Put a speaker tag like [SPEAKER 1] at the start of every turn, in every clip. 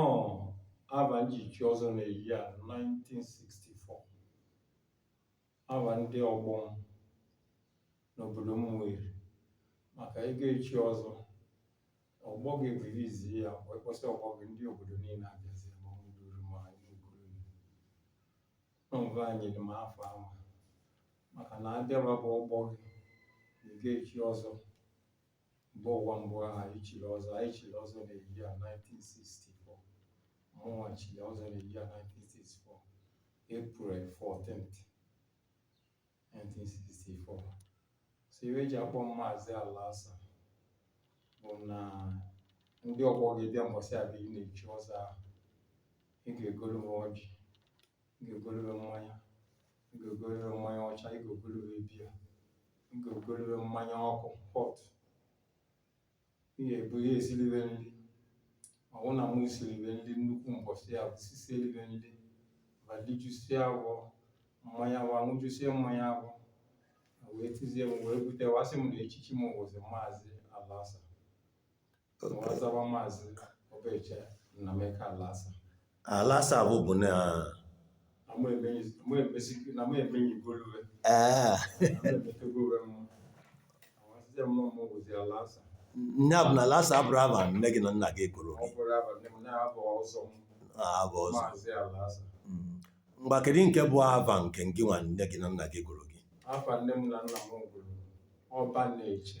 [SPEAKER 1] Ọ ava m ji chi ọzọ na year 1964 ava ndị ọgbọ m n'obodo m nwere maka ị ga-echi ọzọ ọgbọ gị rilizi ya wee kpọsị ọgbọ gị ndị obodo niile abịazi ma m duru ma anyị n'okpuru nọmba anyị dị m afọ ahụ maka na abịaba bụ ọgbọ gị na ị ga-echi ọzọ mba ụwa mgbe ahụ i chiri ọzọ i chiri ọzọ na year 1964 mụnwa chiri ọzọ na year 1964 April 14th 1964 so ive e ji akpọ m Maazị Alasa bụ na ndị ọgbọ gị bịa mbọsị abịa ị na-echi ọzọ ahụ ị ga-egolu m ọjị ị ga-egolu be mmanya ị ga-egolu be mmanya ọcha ị ga-egolu be biya ị ga-egolu be mmanya ọkụ hot ị ga-ebu ihe esili be nri ọ wụ na mụ sili be nri nnukwu mbọsị ya bụ sisieli be nri va lijusie avọ mmanya avọ a ṅụjusie mmanya avọ wee tizie m wee bute wa sị m na echichi m wụzi Maazị Alasa
[SPEAKER 2] Alasa bụ bụ
[SPEAKER 1] na ee nya bụ
[SPEAKER 2] na Alasa abụrọ ava nne gị na nna gị gụrụ
[SPEAKER 1] gị ava
[SPEAKER 2] ọzọ Mm.
[SPEAKER 1] ngwa
[SPEAKER 2] kedu nke bụ ava nke gịnwa nne gị na nna gị gụrụ gị afa nne m na nna
[SPEAKER 1] m gụrụ ọba na-eche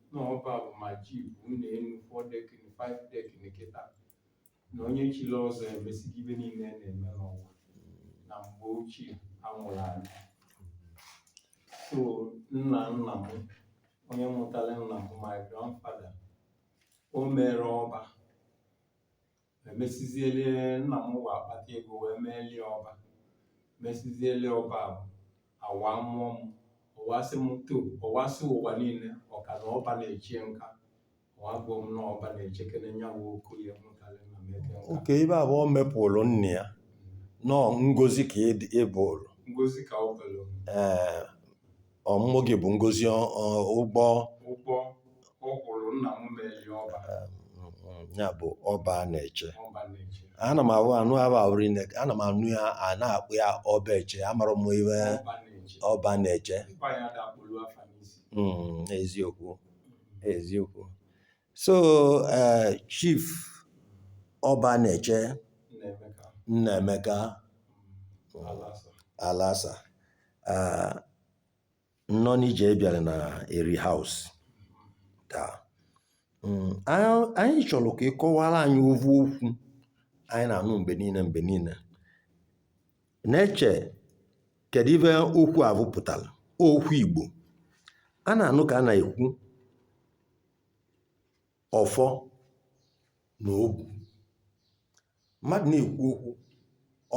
[SPEAKER 1] na ọba bụ ma ji vụ ụnọ enu four decking five decking kịta na onye chiri ọzọ emesigo ive niile a na-eme n'ụwa na mgbe ochie a mụrụ anyị so nna nna m onye mụtara nna m bụ my grandfather o mere ọba emesizielie nna m wee akpata ego wee meelie ọba mesizielie ọba ahụ a wa mụọ m ọ wa sị m to ọ wa sị ụwa niile Ọka na ọba na-echie nka ọ wa gụọ m na ọba na-echekere nyanwa Okoye mụtara Nnameka nka oke ive a
[SPEAKER 2] bụ o mepụrụ nne ya na ọ ngozi ka ị bụrụ ngozi ka ọ
[SPEAKER 1] bụrụ ee
[SPEAKER 2] Ọmụmụ gị bụ ngozi ọ- ọ- ụgwọ
[SPEAKER 1] ụgwọ ọ kwụrụ nna m meelie ọba ya
[SPEAKER 2] bụ ọba a na-eche ọba na-eche ana m ahụ anụ ahụ ahụ rinne ana m anụ ya a na-akpọ ya ọba eche amarọ m ive ọba na-eche ọba na-eche mkpa ya dakpolu afa n'isi Mm, eziokwu eziokwu so eh, chief ọba na-eche nnaemeka alasa eh, nnọọ n'ije ị bịara na eri house taa Mm, anyị anyị chọrọ ka ị kọwara anyị ovu okwu anyị na-anụ mgbe niile mgbe niile na-eche kedu ive okwu a pụtara okwu igbo a na-anụ ka a na-ekwu ọfọ na ogu mmadụ na-ekwu okwu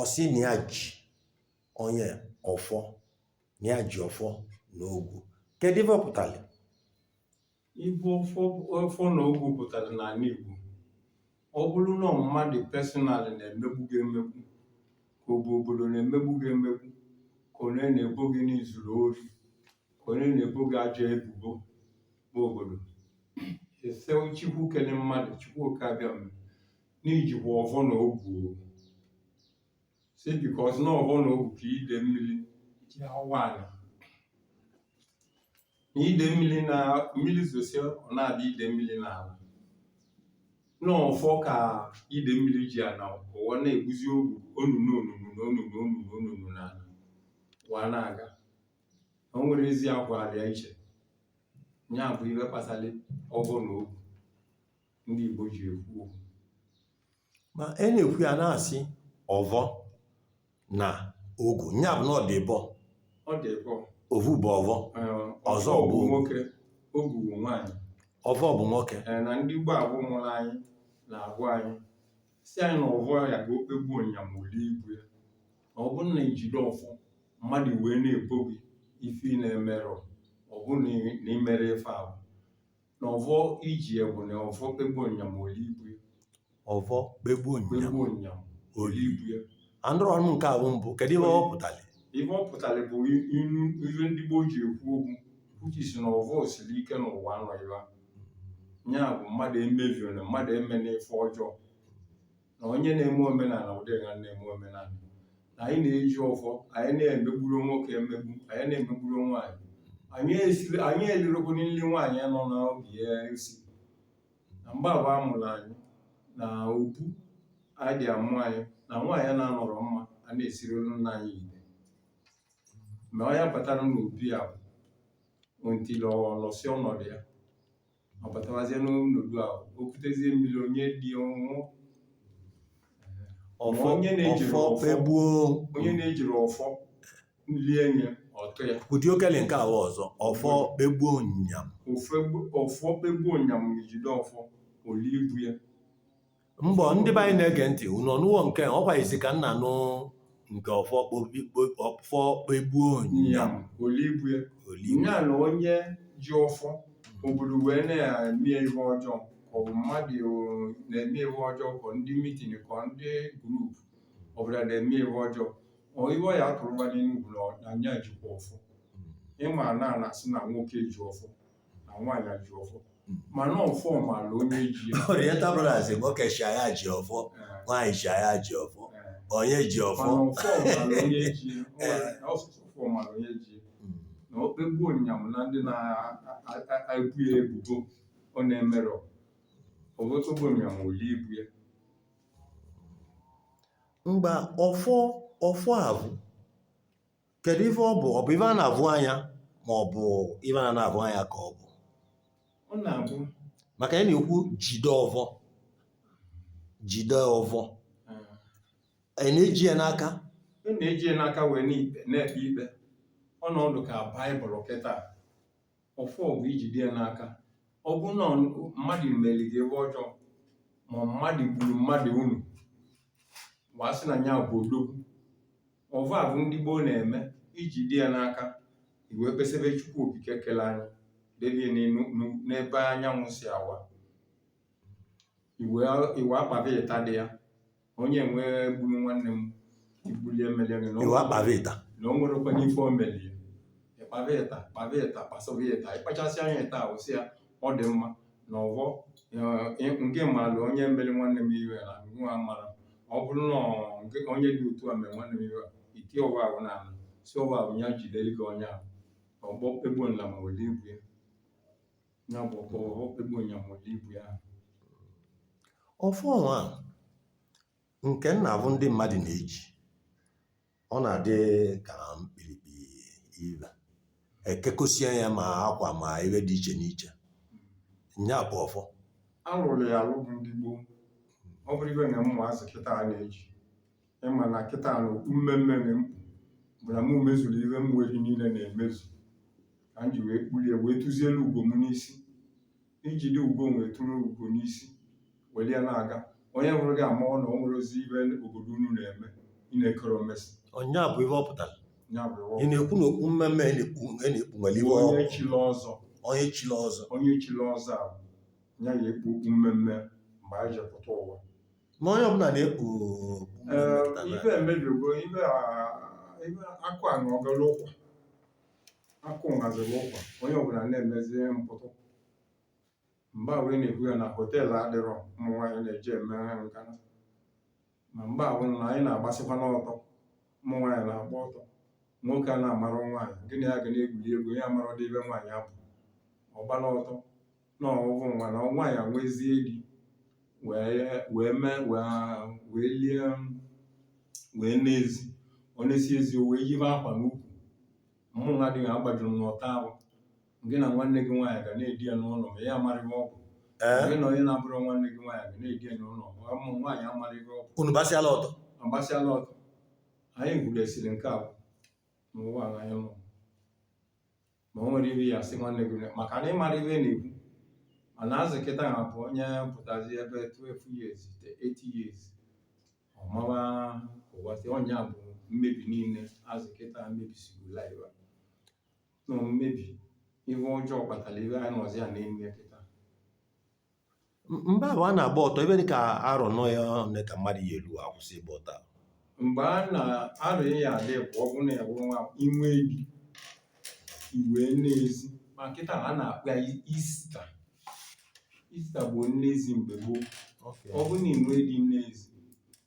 [SPEAKER 2] ọ sị na ya ji onye ọfọ na ya ji ọfọ na ogu kedu ife ọ pụtara
[SPEAKER 1] Ive ọfọ ọfọ na ogu pụtara n'ala Igbo ọ bụrụ na mmadụ personally na-emegbu gị emegbu ka ọ bụ obodo na-emegbu gị emegbu ka onye na-ebo gị na i zuru ori ka onye na-ebo gị ajọ ebubo n'obodo ị sị chukwu kele mmadụ chukwu oke abịama n'ijikwa ọvọ na ogu o si because na ọvọ na ogu ka ide mmiri ji awa ala na ide mmiri na mmiri zosie ọ na-adị ide mmiri n'ala n'ọfọ ka ide mmiri ji ana awa na-egbuzi o- onunu onunu na onunu onunu onunu n'ala ụwa na-aga o nwere ezi akwa alịa iche ya bụ ive gbasara ọvọ na ogu ndị Igbo ji ekwu okwu
[SPEAKER 2] ma e na-ekwu ya na-asị ọvọ na ogu nya bụ na ọ dị ịbọ ọ dị
[SPEAKER 1] ịbọ ovu bụ
[SPEAKER 2] ọvọ Ọzọ bụ ogu.
[SPEAKER 1] nwoke ogu bụ nwaanyị ọvọ bụ nwoke
[SPEAKER 2] Ee, na ndị gboo ahụ
[SPEAKER 1] mụrụ anyị na-agwa anyị si anyị na ọvọ ya ka o kpegbuo nya ma olie ibu ya na ọ bụrụ na i jide ọfọ mmadụ wee na-ebo gị ife ị na-emerọ ọ bụrụ na ị- na i merọ ife ahụ na ọvọ i ji ya bụ na ọvọ kpegbuo nya ma olie ibu ya
[SPEAKER 2] ọvọ kpegbuo nya kpegbuo nya
[SPEAKER 1] ma olie ibu ya anụrọ m
[SPEAKER 2] nke ahụ mbụ kedu ihe ọ pụtara ife ọ pụtara
[SPEAKER 1] bụ i- inu ife ndị gboo ji ekwu okwu which is na ọvọ siri ike n'ụwa a nọ nwa ya bụ mmadụ emeviona mmadụ emena ife ọjọọ na onye na-eme omenala ụdị a na-eme omenala na anyị na-eji ọfọ anyị na-emegburọ nwoke emegbu anyị na-emegburọ nwaanyị anyị esiri anyị elirọkwu nri nwaanyị nọ n'oge ya esi na mgbe ahụ a mụrụ anyị na obu anyị dị amụ anyị na nwaanyị na-anọrọ mma a na-esiri nna anyị ite ma onye batara n'obi ya bụ ntị lọsịa ọnọdụ ya ọ batawazie n'ọnọdụ ahụ o kutezie mmiri onye dị ọnwụ onye na-ejiri ọfọ lie nye ọtụ ya ụdị okele nke
[SPEAKER 2] ahụ ọzọ ọfọ kpegbuo nyam ọfọ
[SPEAKER 1] kpegbuo nyam jide ọfọ oli ibu ya
[SPEAKER 2] Mbọ ndị be anyị na-ege ntị unu anụwo nke a, ọkwa izi ka m na-anụ nke ọfọ kpogbu- ọfọ kpegbuo nya onyam olibu ya
[SPEAKER 1] oli nya na onye ji ọfọ obodo wee na-eme ihe ọjọọ ka ọ bụ mmadụ eh, na-eme ihe ọjọọ ka ndị mitin ka ndị grup ọbụla na-eme ihe ọjọọ ọ ihe ọ ya atụrụba n'enugwu na ọ- na nya jikwa ọfọ ịma na a na-asị na nwoke ji ọfọ na nwaanyị ji ọfọ mana ọfọ maala onye ji ya Oriental Brothers
[SPEAKER 2] nwoke sị na ya ji ọfọ Eh, nwaanyị sị na ya ji ọfọ eh. onye ji ọfọ mana ọfọ maala onye
[SPEAKER 1] ji ya Nwaanyị- ọsụsụ ọfọ maala onye ji ya Mm. na okpegbu onyam na ndị na-ebo ya ebubo ọ na-emerọ ọvọ tigbuo onyam oli ibu ya
[SPEAKER 2] mgba ọfọ ọfọ avụ kedu ife ọ bụ ọ bụ ife a na-avụ anya ma ọ bụ ife a na-avụ anya ka ọ bụ
[SPEAKER 1] ọ na-abụ maka a na-ekwu
[SPEAKER 2] jide ọvọ jide ọvọ eh, anyị na-eji ya n'aka ị na-eji ya n'aka
[SPEAKER 1] wee na-ekpe ikpe ọ na-adị ka Bible kịta ọfọ bụ ijide ya n'aka ọ bụ na ọ- mmadụ mere gị ife ọjọọ ma mmadụ gburu mmadụ unu wee sị na ya bụ odogwu ọvọ avụ ndị gboo na-eme ijide ya n'aka i wee kpesebe chukwu okike kele anyị debie n'ebe anyanwụ si awa i wee kpaba ịta dị ya onye nwee gburu nwanne m ibulie mmeli gị
[SPEAKER 2] na o nwerọkwanụ ife
[SPEAKER 1] o meli ịkpaba ịta kpaba ịta kpasaba ịta ị kpachasịa nya ịta ahụ sị ya ọ dị mma na ọvọ nke mmadụ onye mere nwanne m ive na nwa mara ọ bụrụ na onye dị otu a mere nwanne m ive a i tie ọvọ ahụ n'ala sị ọvọ ahụ ya jidere gị onye ahụ ọvọ egbuo nya ma were ibu ya ya bụ ọvọ egbuo nya ma were ibu
[SPEAKER 2] ya ọfọ nwa ahụ nke m na-avụ ndị mmadụ na-eji ọ na-adị ka mkpirikpi ihe e kekọsịa ya ma akwa ma ihe dị iche n'iche nya bụ ọfọ alụrụ ya
[SPEAKER 1] alụ bụ ndị gboo ọ bụrọ ive na ụmụazị kịta a na-eji ịma na kịta na okpu mmee mmee na m kpu bụ na mụ mezuru ihe m nwere niile na-emezu ka m ji wee kpuli ya wee tụzielu ugo m n'isi ijide ugo wee tụrụ ugo n'isi were ya na-aga onye hụrụ gị amarụ na o nwere ozi ihe obodo unu na-eme ị na-ekere omesi ọ nya bụ ihe ọ
[SPEAKER 2] pụtara ya bụ ịwa ị na-ekwu
[SPEAKER 1] na okpu
[SPEAKER 2] mmemme a na-ekpu a na-ekpu nwere iwe
[SPEAKER 1] onye chiri
[SPEAKER 2] ọzọ onye chiri ọzọ
[SPEAKER 1] a ya ya ekpu okpu mmemme mgbe anyị ji pụta ụwa ma onye ọbụla
[SPEAKER 2] na-ekpu
[SPEAKER 1] ihe emebigo ihe akụ anwọgala ụkwa akụ nwọziri ụkwa onye ọbụla na-emezi mpụtụ mgbe ahụ ị na-ekwu ya na họteelụ adịrọ ụmụ nwaanyị na-eje eme ngana ma mgbe ahụ na anyị na-agbasịkwa n'ọtọ ụmụ nwaanyị na-agba ọtọ nwoke a na-amarụ nwaanyị gị na ya ga na-egwuri egwu ya amarọdị ive nwaanyị abụ ọ gbala ọtọ na ọ bụ nwa na nwaanyị nwezie di wee wee mee wee lie wee nee ezi o nesie ezi o wee yibe akwa n'ukwu mụnwa adịghị agbajuru m n'ọtọ ahụ gị na nwanne gị nwaanyị ga na-edina n'ụlọ ma ya amarịghị ọ bụ gị na onye na-abụrọ nwanne gị nwaanyị ga na-edina n'ụlọ ma ụmụ nwaanyị amarịghị ọ bụ unu gbasịala ọtọ
[SPEAKER 2] agbasịala ọtọ
[SPEAKER 1] anyị gudesiri nke a n'ụwa anyị nọ ma o nwere ihe ị ya-asị nwanne gị maka na ị mara ihe na-ekwu mana azị kịta a bụ onye pụtazi ebe 12 years 8 years ọ mawa ụwa sị ọ nya bụ mmebi niile azị kịta mebisigo life na mmebi ihe ọjọọ kpatara ihe anyị nọzi ya n'ime kịta
[SPEAKER 2] mgbe ahụ a na-agba ọtọ ihe dị ka arọ nọ ya ole ka mmadụ ya-elu akwụsị ịgba ọtọ ahụ. mgbe a
[SPEAKER 1] na-arụ ya adị bụ ọ bụrụ na ya bụrụ nwa i nwee di i wee nee ezi ma kịta a na-akpọ ya ista ista bụ nnezi mgbe gboo ọ bụrụ na i nwee di nee ezi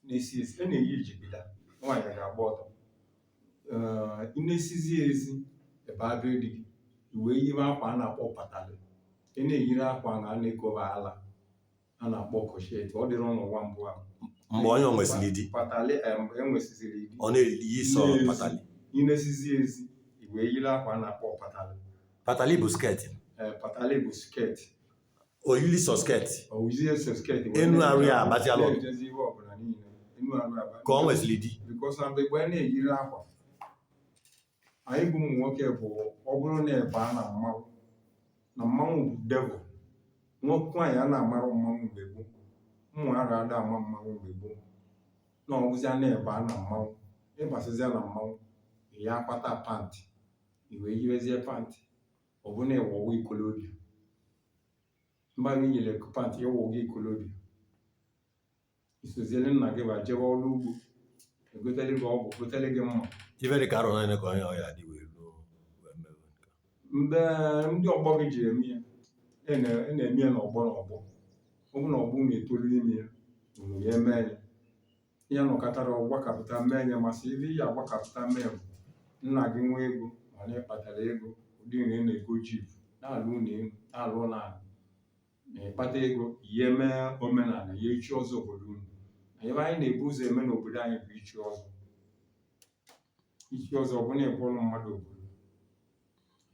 [SPEAKER 1] nesie ezi a na-eyi jigida nwaanyị ga-agba ọtọ i nesizie ezi ebe ahụ di gị i wee yiwe akwa a na-akpọ patalị ị na-eyiri akwa na a na-ekoba ala a na-akpọ corset ọ dịrị n'ụwa mbụ ahụ mgbe onye
[SPEAKER 2] nwesịrị di patalị eh, mgbe
[SPEAKER 1] o nwesịziri di ọ na-eyi sọ
[SPEAKER 2] patali i nesizie
[SPEAKER 1] ezi i wee yiri akwa a na-akpọ patalị patali bụ skirt
[SPEAKER 2] Eh, patalị bụ
[SPEAKER 1] skirt o
[SPEAKER 2] yili sọ skirt o yizie sọ
[SPEAKER 1] skirt Enu arụ ya
[SPEAKER 2] agbaziala. ejezi ihe ọbụla niile enu arụ ya agbazi ka ọ nwezili di because na mgbe mgbe anyị
[SPEAKER 1] na-eyiri akwa anyị bụ ụmụ nwoke bụ ọ bụrụ na ị baa na mmanwụ na mmanwụ bụ devil nwoke nwaanyị a na-amarụ mmanwụ mgbe gboo ụmụ ara ada ama mmanwụ mgbe gboo na ọ bụzịa na ị baa na mmanwụ ị basịzịa na mmanwụ ya akpata pant i wee yiwezie pant ọ bụ na ị wụgo ikolobịa ma gị yili pant ị wụgo ikolobịa i soziere nna gị ba jebe ọrụ ugbo egotele gị ọgụ gotele gị mma ife dị ka arọ one
[SPEAKER 2] ka onye ọya dị wee ruo wee mewe nke
[SPEAKER 1] a. mgbe ndị ọgbọ gị ji eme ya ị na- ị na-eme ya n'ọgbọ n'ọgbọ ọ bụ na ọgbọ na-etolu ime ya unu ya eme ya ya nọkatara ọgbọ akapụta mee ya masị ibe ya agbakapụta mee bụ nna gị nwee ego mana ị kpatara ego ụdị na ị na-ego jeep na-alụ ụlọ elu na-alụ ụlọ ala na ị kpata ego ya emee omenala ya ichi ọzọ obodo unu na ife anyị na-ebu ụzọ eme n'obodo anyị bụ ichi ọzọ ichi ọzọ bụ na ị bụrụ mmadụ ọ bụrụ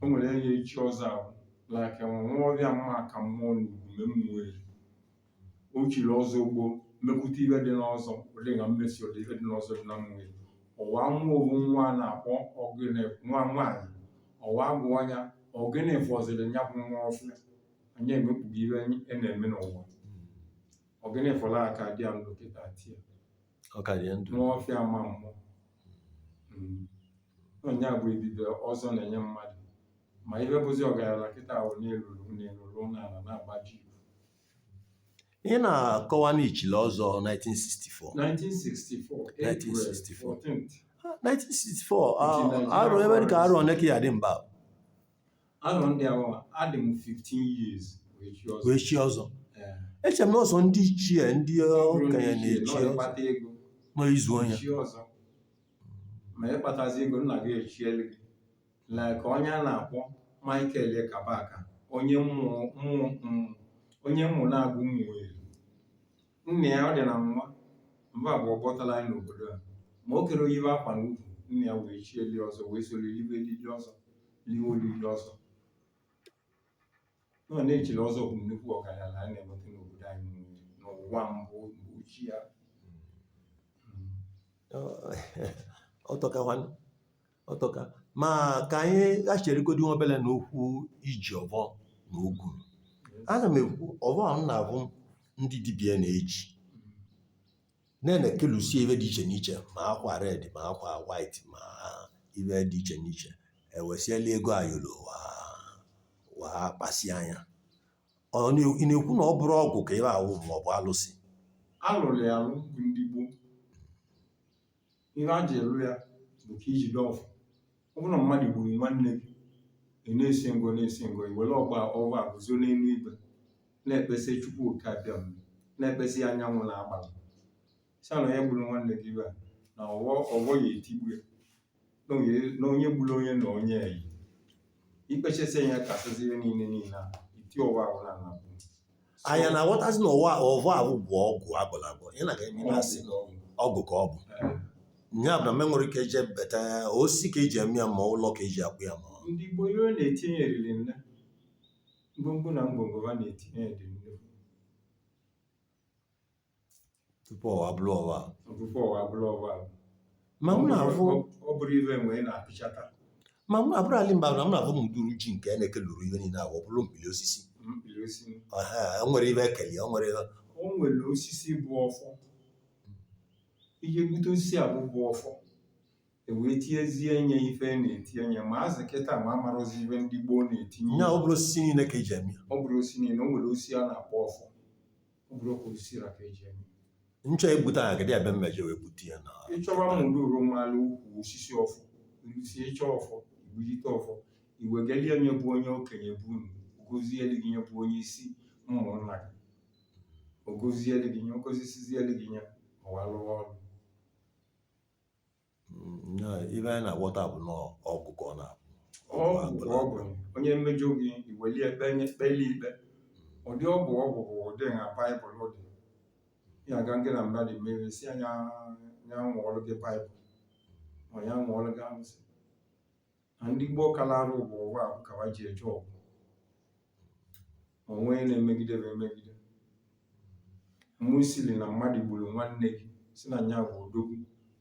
[SPEAKER 1] o nwere onye ichi ọzọ ahụ like Nwaọfịa mma ka mmụọ n'Ugume Ụmụeri o chiri ọzọ gboo mepụta ife dị n'ọzọ ụdị na mmesi ụdị ife dị n'ọzọ dị na Ụmụeri ọwa nwa owu nwa a na-akpọ ọ gịnị nwa nwaanyị ọwa bụ anya ọ gịnị fọziri ya bụ Nwaọfịa anyị emekpụghị ife a na-eme n'ụwa ọ gịnị fọrọ ọ ka dị ya ndụ kịta tia ọ ka dị ndụ Nwaọfịa ama mmụ Mm. nya bụ ebube ọzọ na-enye mmadụ ma ihe bụzi ọgaranya kịta bụ na ị rụrụ ụnọ elu rụọ ụnọ ala na-agba
[SPEAKER 2] jeep ị na-akọwa na i chili ọzọ 1964 1964 April 1964. 14th 1964 Nchi Naịjirịa arọ ife dị ka arọ one ka ị dị mgbe ahụ
[SPEAKER 1] arọ ndị ahụ adị m 15 years wee chi ọzọ wee
[SPEAKER 2] chi ọzọ Ee, eche m na ọ sọ ndị ichie ndị ọ bụrụ na okenye ichie, na-echi na ọ ọzọ ịkpata ego
[SPEAKER 1] n'izu onye
[SPEAKER 2] chi ọzọ
[SPEAKER 1] ma ị kpatazi ego nna gị echielu gị like onye a na-akpọ Michael Kabaka onye Ụmụ Ụmụ mm, onye Ụmụnagụ Ụmụeri nna ya ọ dị na nwa mba bụ ọkpọtala anyị n'obodo a ma o kero eyibe akwa n'ukwu nna ya wee chielie ọzọ wee soro libe olili ọzọ liwe olili ọzọ na onye chiri ọzọ bụ nnukwu ọgaranya a na-enweta n'obodo anyị niile, n'ụwa mbụ mgbe ochie a Ọ-
[SPEAKER 2] ọ tọkakwanụ ọ tọka ma ka anyị gachirigodu nwa obere na okwu iji ọfọ na ogu ana m ekwu ọfọ ahụ na-abụ ndị dibịa na-eji na-ekelusie ife dị iche n'iche ma akwa red ma akwa white ma ife dị iche n'iche ewesiela ego ayọrọ wa wa kpasi anya ọ na- ị na-ekwu na ọ bụrọ ọgwụ ka ife ahụ ma ọ bụ alụsị alụrụ ya
[SPEAKER 1] alụ bụ ndị gboo ihe a ji elu ya bụ ka i jide ọvọ ọ bụrụ na mmadụ gburu nwanne gị ị na-esi ngo na-esi ngo i were ọvọ ọvọ a guzo n'elu igwe na-ekpesị chukwu oke abịama na-ekpesị anyanwụ na agbala si na onye gburu nwanne gị ive a na ọvọ ọvọ ya etigbu ya na onye- na onye gburu onye na onye eyi i kpechasịa kasịzi ihe niile niile a i tie ọvọ ahụ na ana
[SPEAKER 2] nya na-aghọtazi na ọvọ ọvọ ahụ bụ ọgwụ a gwọlụ agwọ ị na-aga eme na-asị na ọgwụ ka ọ bụ ya bụ na me nwere ike eje beta osi ka eji eme ya ma ụlọ ka eji akpụ ya ma ndị gboo ihe ọ
[SPEAKER 1] na-etinye eriri nne ngwongwo na ngwongwo ha na-etinye dị nnukwu
[SPEAKER 2] tupu ọvọ abụrụ ọvọ tupu ọvọ abụrụ
[SPEAKER 1] ọvọ ma m na-afụ ọ bụrọ ive mgbe ị na-apịchata ma m abụrụ
[SPEAKER 2] ali mba na m na-afụ m duru ji nke na-ekeluru ihe niile agwa ọ bụrọ mkpiri osisi mkpiri osisi o nwere ive ekeli o nwere o
[SPEAKER 1] nwere osisi bụ ọfọ i je gbute osisi ahụ bụ ọfọ e wee tinyezie nye ife e na-etinye nye ma azị kịta mụ amarọzi ive ndị gboo na-etinye ya ọ bụrọ osisi niile
[SPEAKER 2] ka eji eme ọ bụrọ osisi niile o nwere
[SPEAKER 1] osisi a na-akpọ ọfọ ọ bụrụ ọkụ osisi ra ka eji eme nchọ egbute
[SPEAKER 2] aha gịdị abịa m meje wee gbute ya na ịchọwa m duru
[SPEAKER 1] malụ ukwu osisi ọfọ ilusi ịchọ ọfọ i gbujite ọfọ i wegalie onye bụ onye okenye be unu ọ gọzieli gị nya bụ onye isi ụmụnna gị ọ gọzieli gị nya ọ gọzisizieli gị nya ọvọ alụwa ọrụ
[SPEAKER 2] ive anyị na-aghọta bụ na ọgwụ ka ọ na-abụ ọgwụ ka ọ bụ onye
[SPEAKER 1] mejọ gị i weli ekpe nye kpeli ikpe ụdị ọgwụ ọgwụ bụ ụdị na baịbụl dị ya aga gị na mmadụ mere sị nya ya ṅụọlụ gị baịbụl ma ya ṅụọlụ gị arụsị na ndị gboo kalara ọvọ ọvọ ahụ ka ha ji eje ọgụ o nwee na-emegide bụ emegide mụ siri na mmadụ gburu nwanne gị si na nya bụ odogwu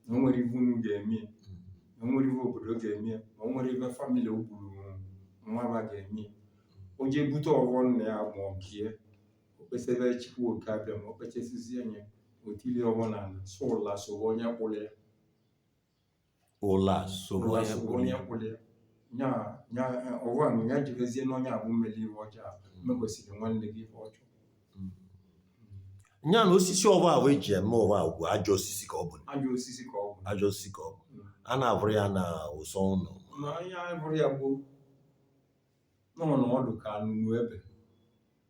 [SPEAKER 1] na o nwerọ ive unu ga-eme ya na o nwerọ ive obodo ga-eme ya na o nwerọ ive famili o gburu nwa va ga-eme ya o jee bute ọvọ nna ya ma ọ bie o kpesebe chukwu oke abịama o kpechesizie nya o tilie ọvọ na ana sị ụla sowe onye kpụrụ ya ụla sobe onye kpụrụ ya nya ọvọ ahụ ya jebezie n'onye ahụ meli ive ọjọọ mekwesịrị nwanne gị ife ọjọọ
[SPEAKER 2] nya na osisi ọvọ ahụ eji eme ọvọ ahụ bụ ajọ osisi ka ọ bụ ajọ osisi ka ọ bụ a na-avụrọ ya na ụsọ ụlọ Na onye vụrụ
[SPEAKER 1] ya gboo na ọ dị ka anụnụ ebe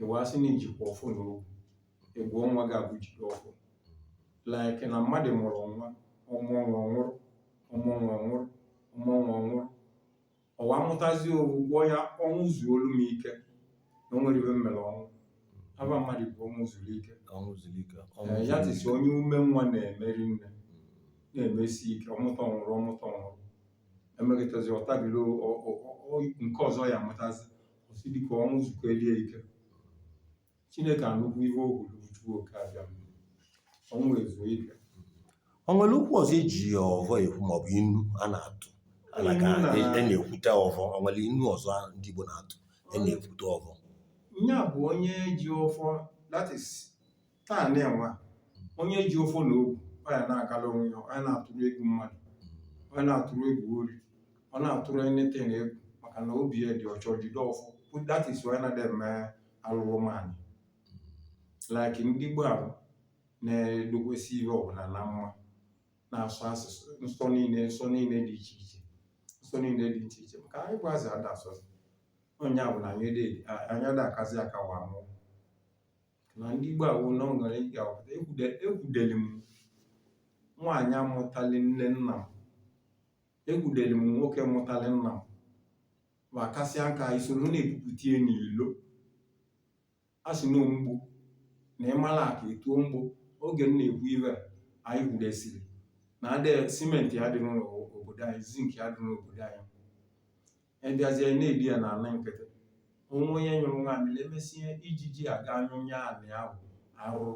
[SPEAKER 1] ịwa asị na ijikwa ọfụ na ogwu ịgwọ nwa gị abụ jiri ọfụ like na mmadụ mụrụ nwa ọmụọ nwa ọnwụrụ ọmụọ nwa ọnwụrụ ọmụọ nwa ọnwụrụ ọwa mụtazi owu gwọ ya ọnwụ zuo olu m ike na o nwere ibe m mere ọnwụ aba mmadụ bụ ọnwụ zuru ike ọnwụ zuru ike ọnwụ Ee, ya zuru tisi ike. onye ume nwa na-emeri nne na-emesi ike ọmụta ọnwụrụ ọmụta ọnwụrụ emekịtazi ọtabiri o- o- o- o- nke ọzọ ya amụtazi ọ sị dịka ọnwụ zukọ elie ike Chineke anụkwu ihe o kwuru Chukwu oke abịa ọnwụ ezuo ike o nwere
[SPEAKER 2] okwu ọzọ e ji ọvọ ekwu maọbụ inu a na-atụ a na- Inu na- a na-ekwute ọvọ o nwere inu ọzọ ndị Igbo na-atụ a na-ekwute ọvọ
[SPEAKER 1] nya bụ onye ji ọfọ that
[SPEAKER 2] is
[SPEAKER 1] taa na-enwe onye ji ọfọ na ogu ọ ya na-agala onwe ya ọ ya na-atụrụ egwu mmadụ ọ ya na-atụrụ egwu ori ọ na-atụrụ anything egwu maka na obi ya dị ọcha jide ọfọ that is why na dem mee alụrụ nwaanyị like ndị gboo ahụ na-edokwesị ihe ọbụla na mma na-asọ nsọ nsọ niile nsọ niile dị iche iche nsọ niile dị iche iche maka anyị gwazi ada asọ nsọ nya bụ na anyị ada akazi aka wa mụ na ndị gboo ahụ na o nwere ike awụta ekwudeli m nwaanyị mụtali nne nna m ekwudeli m nwoke mụtali nna m wa kasịa nka e soro na-ebupụta ya n'ilo a sị na ọ mgbo na ị mala aka ị tụọ mgbo oge m na-ekwu ive a, anyị kwudesiri na adị cement adịrọ n'obodo anyị zinc adịrọ n'obodo anyị e biazie na-edi ya n'ala nkịtị o nwe onye nyụrụ nwaamịrị e mesie ijiji aga nyụnye anị ahụ arụrụ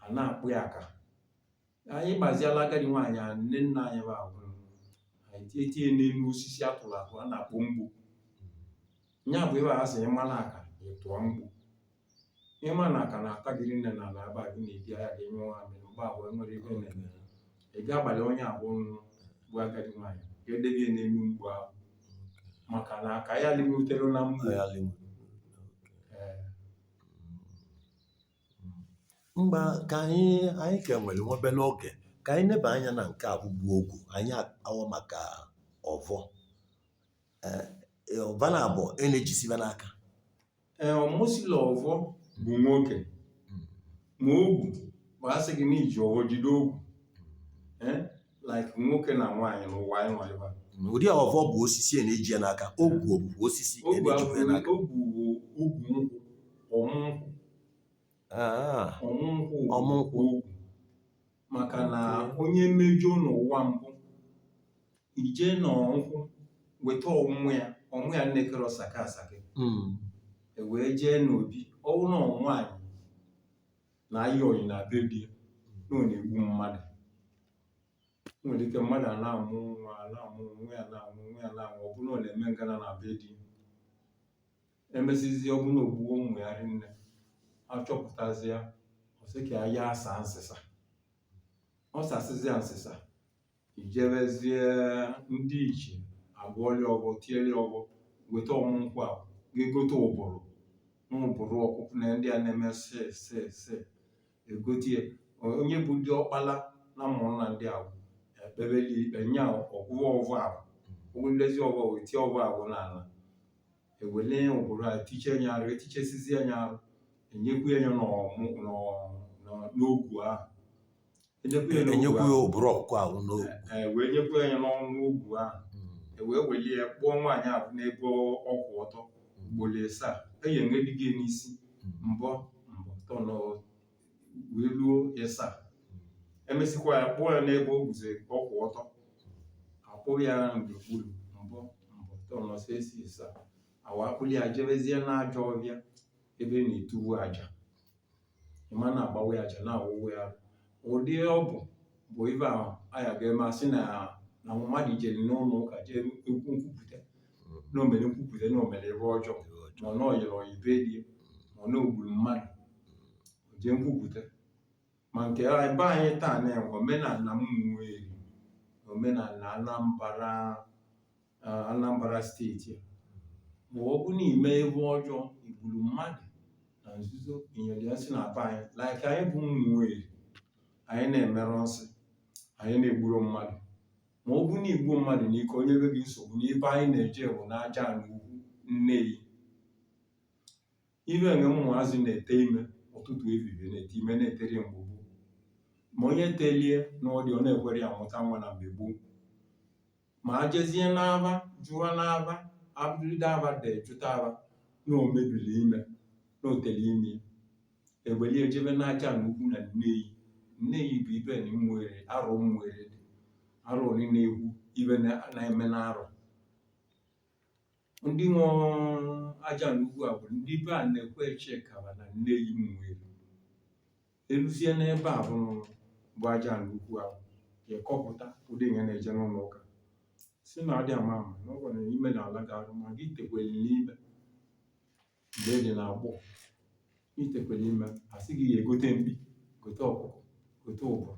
[SPEAKER 1] a na-akpụ ya aka anyị gbaziela agadi nwaanyị a nne nna anyị bụ agwụrụ anyị tie tie n'elu osisi a tụrụ atụ a na-akpọ mgbo nya bụ ebe a sị ị mara aka ị tụọ mgbo ị ma na aka na-ata gị nne na ala aba gị na-edi anya gị nyụọ nwaamịrị mgbe ahụ enwere ebe na-eme ị ga-agbalị onye ahụ bụ agadi nwaanyị ka edebe ya n'elu mgbo ahụ maka na aka ya limutere na mgbo ee
[SPEAKER 2] ngwa ka anyị anyị ka nwere nwa obere oge ka anyị neba anya na nke a bụkwu ogu anyị akpawa maka ọvọ ee ọ va naabọ a na-ejisi va n'aka
[SPEAKER 1] ee ọ m sị na ọvọ bụ nwoke ma ogu bụ a sị gị na i ji ọvọ jide ogu ee like nwoke na nwaanyị n'ụwa anyị nwa ebe a. Mm, ụdị ọvọ bụ
[SPEAKER 2] osisi a na-eji ya n'aka ogu bụ osisi a ogu na-ejikwa ya abụghị n'aka ogu
[SPEAKER 1] bụ ogu nkwụ ọmụ nkwụ Ah, ọmụ nkwụ bụ Ọmụ nkwụ. ogu maka na onye mejọ n'ụwa mbụ ije na nkwụ weta ọmụ ya ọmụ ya nne kere ọsaka asaka Mm. e wee jee n'obi ọwụ na nwaanyị na-ayị oyi na be di ya na ọ na-egbu mmadụ O nwere ike mmadụ a na-amụ nwa a na-amụ nwa ya na-amụ nwa ya na-amụ ọ bụrụ na ọ na-eme ngana na be di ya emesizie ọ bụrụ na o gbuo ụmụ ya rinne a chọpụtazi ya ọ sị ka ya ya asa nsịsa ọ sasịzi ya nsịsa ijebezie ndị ichie agọọlị ọvọ tieli ọvọ weta ọmụ nkwụ a ga-egote uburu uburu ọkụkụ na ndị a na-eme se se se egotie onye bụ di ọkpala na ụmụnna ndị ahụ ekpebeli ikpe nya ọ gọọ ọvọ ahụ ọ gọdezi ọvọ wee tie ọvọ ahụ n'ana ewele uburu a tiche nya arụ etichesizie nya arụ enyekwu ya n'ọmụ n'ọmụ n'ogwu ahụ enyekwa ya
[SPEAKER 2] n'ogwu ahụ. enyekwu ya uburu ọkụkọ ahụ n'ogwu E wee nyekwu
[SPEAKER 1] ya n'ọnụ ogwu ahụ e wee welie ya kpụọ nwaanyị ahụ n'ebe ọ- ọ kwụ ọtọ ugboro ịsaa eyi enwedighị ya n'isi mbọ mbọ tọ nọ wee ruo ịsaa emesịkwa ya kpụọ ya n'ebe o guzo ọ kwụ ọtọ akpụrụ ya n'okpuru mbọ mbọ tọ nọ se si ịsaa awa akpụrụ ya jebezie n'ajọ ọvịa ebe na-etuvu aja ịma na-agbawa ya aja na-awụwụ ya ụdị ọ bụ bụ ive ahụ aya ga-eme a sị na na mmadụ jere n'ụlọ ụka jee ekwu nkwupụta na o mere nkwupụta na o mere ive ọjọọ ma ọ na o yere oyi be di ma ọ na o gburu mmadụ o jee nkwupụta ma nke ebe anyị taa na omenana Ụmụeri omenana Anambara Anambra steeti ma ọ bụ na i me ive ọjọọ i gburu mmadụ na nzuzo i nyere ya nsị na be anyị like anyị bụ Ụmụeri anyị na-emerụ nsị anyị na-egburu mmadụ ma ọ bụ na i gbu mmadụ n'ike o nyebe gị nsogbu n'ebe anyị na-eje bụ n'Ajana ukwu Nneyi ive e nwe ụmụazị na-ete ime ụtụtụ evivie na-ete ime na-etere mgbe gboo ma onye telie n'ọdị ọ na-ekwere ya mụta nwa na mgbe gboo ma a jezie n'ava jụọ n'ava abụrụde ava dị jụta ava na o mebiri ime na o tere ime ewelie jebe n'Ajana ukwu na Nneyi Nneyi bụ ibe na Ụmụeri arụ Ụmụeri dị arụ niile egwu ive na- na-eme n'arụ ndị nwe Ajana ukwu a bụ ndị be Anekwe Echekaba na Nneyi Ụmụeri eluzie n'ebe a bụ bụ Ajana ukwu a ga-ekwupụta ụdị ihe na-eje n'ụlọ ụka si na adị ama ama na ọ gwara na ime na ala ga-arụ ma gị tekwere n'ime mgbe e nyere agbụ itekwere ime a sị gị ya egote mkpi gote ọkụkọ gote ụbụrụ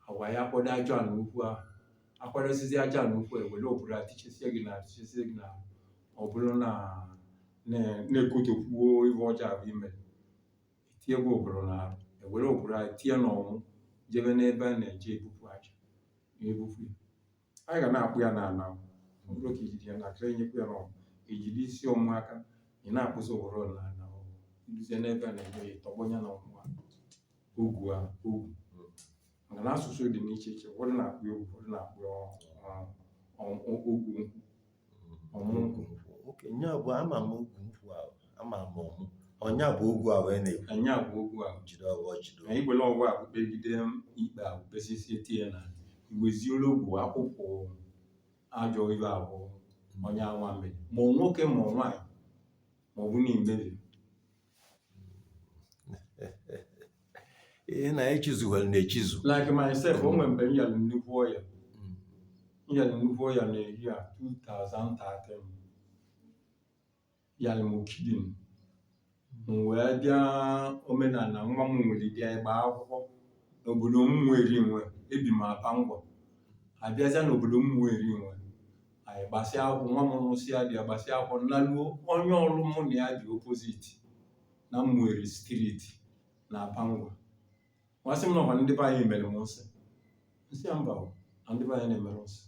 [SPEAKER 1] awa ya akwado ajana ukwu ahụ akwadosizi ajana ukwu ewere ụbụrụ atichesie gị na atichesie gị na ọ bụrụ na na- na-ekotokwuo ibe ọjọọ ahụ i mere tie gị ụbụrụ na arụ ewere ụbụrụ ahụ tie n'ọmụ jebe n'ebe a na-eje ebupụ aja na-ebupụ ya anyị ga na-akpụ ya n'ala ọ bụrụ ka ijide ya na aka enyekwu ya n'ọmụ ejide isi ọmụ aka ị na-akpụzi ụbụrụ n'ala i luzie n'ebe a na-eme ya tọgbọ ya na ọmụ a ogu a ogu maka na asụsụ dị n'iche iche ụfọdụ na-akpọ ya ogu ụfọdụ na-akpọ ya ọ- ọ- ọ- ogu ọmụ nkwụ
[SPEAKER 2] oke nya bụ ama m ogwu nkwụ ahụ ama m ọmụ ọ nya bụ ogwu ahụ a na-ekwu nya bụ ogwu ahụ
[SPEAKER 1] jide ọghọ jide na
[SPEAKER 2] igbele ọgwụ ahụ
[SPEAKER 1] kpegide ikpe ahụ kpesisi etinye na i weziolu ogwu akwụkwọ ajọ ibe ahụ onye anwa mere ma ọ nwoke ma ọ nwaanyị ma ọ bụ na i mere
[SPEAKER 2] ihe na-echizughị na echizu like myself
[SPEAKER 1] o nwere mgbe m yara nnukwu ọya m yara nnukwu ọya na year 2013 yara m kidney m wee bịa omenala nwa m nwere bịa ịgba akwụkwọ n'obodo ụmụeri nwe ebi m aba ngwa abịazịa n'obodo ụmụeri nwe anyị gbasịa akwụkwọ nwa m lụsịa di ya gbasịa akwụkwọ m naluo onye ọrụ mụ na ya dị opposite na ụmụeri street na aba ngwa asị m na ọkwa ndị be anyị mere m nsị m sị ya mba o, na ndị be anyị na-emere nsị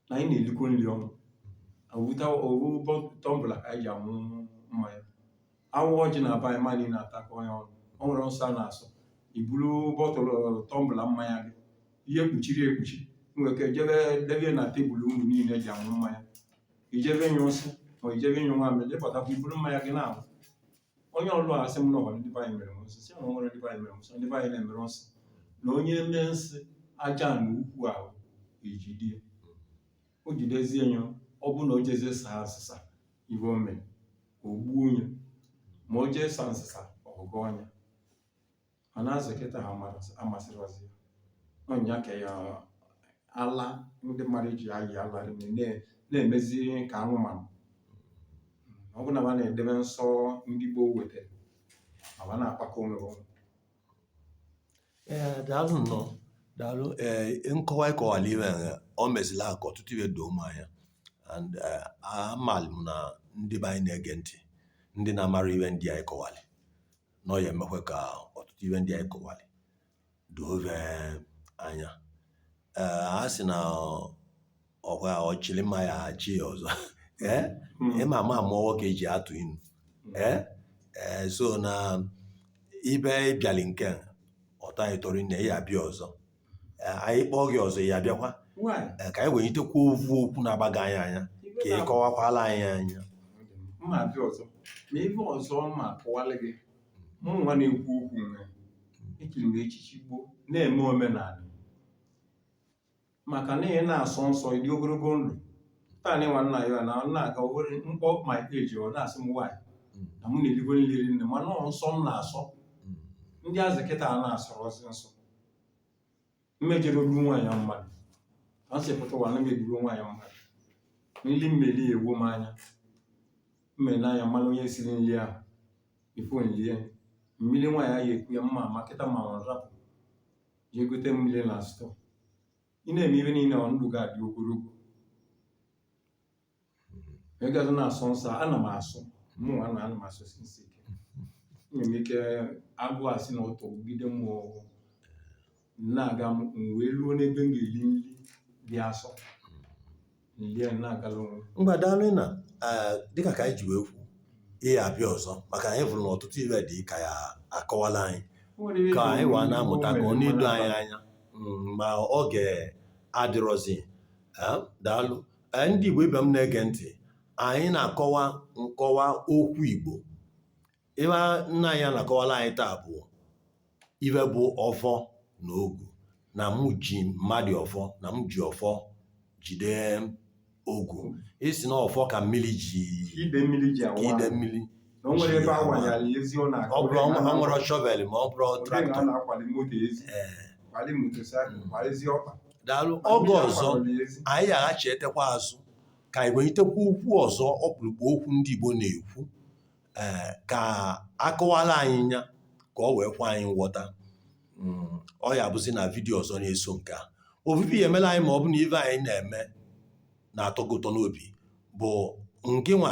[SPEAKER 1] na anyị na-elikọ nri ọnụ a wụta owu tumbler ka anyị ji aṅụ mmanya a waa ọjị na be anyị mmadụ niile na-atakọ ya ọnụ o nwere nsọ a na-asọ i buru bottle tumbler mmanya gị ihe kpuchiri ekpuchi i nwere ike jebe debe na table unu niile ji aṅụ mmanya i jebe ịnyụ nsị ma i jebe ịnyụ nwa mmiri jepụtakwa i buru mmanya gị na-aṅụ onye ọlụ a sị m na ọkwa ndị be anyị mere m nsị sị na nwere ndị be anyị mere m nsị ndị be anyị na-emere nsị na onye mee nsị ajana ukwu ahụ ejidie o jidezie ya ọ bụ na o jezie saa asịsa ibe o mere o gbuo onye ma o jee sa nsịsa ọgụgụ ọnya mana azụ kịta ha amasịrịzi ọ nya ka ya ala ndị mmadụ ji ayị ala rime na- na-emezi ka anụmanụ ọ bụrụ na ba na-edebe nsọ ndị gboo wetara ma ba na-akpakọ onwe ha ọnụ.
[SPEAKER 2] ee daalụ nnọọ daalụ ee nkọwa ị kọwalị iwe ya o mezila ka ọtụtụ iwe doo m anya and eh, amalụ m na ndị be anyị na-ege ntị ndị na-amara iwe ndị anyị kọwalị na ọ ya emekwe ka ọtụtụ iwe ndị anyị kọwalị doo be anya ee a sị na ọ- ọkwa ọchịrị mma ya achị ya ọzọ ee Mm. ịma ama mụwa ka eji atụ inu ee ee so na ebe ị bịali nke a, ọ tọ anyị ụtọ rinne ị ya-abịa ọzọ Ee, anyị kpọọ gị ọzọ ị ya-abịakwa Why? Ee, ka anyị wenyitekwa ovu okwu na-agbaga anyị anya Ibe ka ị kọwakwala anyị nya mma abịa
[SPEAKER 1] ọzọ ma ibe ọzọ mma akọwalị gị mụ nwa na-ekwu okwu nwe echiri m echichi gboo na-eme omenanị maka na ị na-asọ nsọ ị dị ogologo ndụ taa na ịnwa nna ya na ọ na-aga were mkpọ ma eji ọ na-asị m nwaanyị na mụ na-erigo nli rinne mana ọ nsọ m na-asọ ndị azị kịta ana-asọrọzi nsọ mmejere olu nwaanyị mmadụ a sị pụta ụwa na megburu nwaanyị mmadụ nri mmeli ya egbuo m anya mmele anya m manụ onye siri nri ahụ ifu m lie mmiri nwaanyị ahụ eku ya mma ma kịta ma ọ rapụ jee gote mmiri na stọọ ị na-eme ihe niile ọ ndụ ga-adị ogologo ị gazi na-asọ nsọ ana m asọ mụnwa na ana m asọsi nsọ ike nwere ike agụụ esi na ụtụtụ jide m agụụ na-agụ m m wee ruo n'ebe m ga-eli nri dị asọ m lie na-agala onwe m ngwa daalụ
[SPEAKER 2] na eh, dịka ka anyị ji wee kwu ị ya-abịa ọzọ maka na anyị fụrụ na ọtụtụ ive dị ka ya akọwala anyị ka anyị wee na-amụta ka ọ na-edo anyị anya Mm, ma oge adịrọzi Eh, daalụ Ee, ndị Igbo ibe m na-ege ntị anyị na-akọwa nkọwa okwu Igbo ive nna anyị na-akọwala anyị taa bụ ive bụ ọfọ na ogu na mụ ji mmadụ ọfọ na m ji ọfọ jide ogu ị sị na ọfọ ka mmiri ji ide mmiri ji ka
[SPEAKER 1] awụ ide ahụ. mmiri na o nwere ebe a wanyara ya ezi ọ na-akụ ọ bụrụ ọ nwere- o
[SPEAKER 2] nwerọ shọvel ma ọ bụrọ Ọ dịghị na a traktọ na-akwali moto ezi Ee, kwali motosaịkụl kwali ezi ọkpa daalụ Ndị oge a ọzọ kwadoro ya ezi. anyị ya-aghachitekwa azụ ka anyị welitekwa okwu ọzọ ọkpụrụkpụ okwu ndị Igbo na-ekwu ee ka akọwala anyị nya ka ọ wee kwe anyị nghọta Mm, ọ ya-abụzi na vidiyo ọzọ na-eso nke a ovu ive ị ya-emela anyị ma ọ bụ na ive anyị na-eme na-atọ gị ụtọ n'obi bụ ngịnwa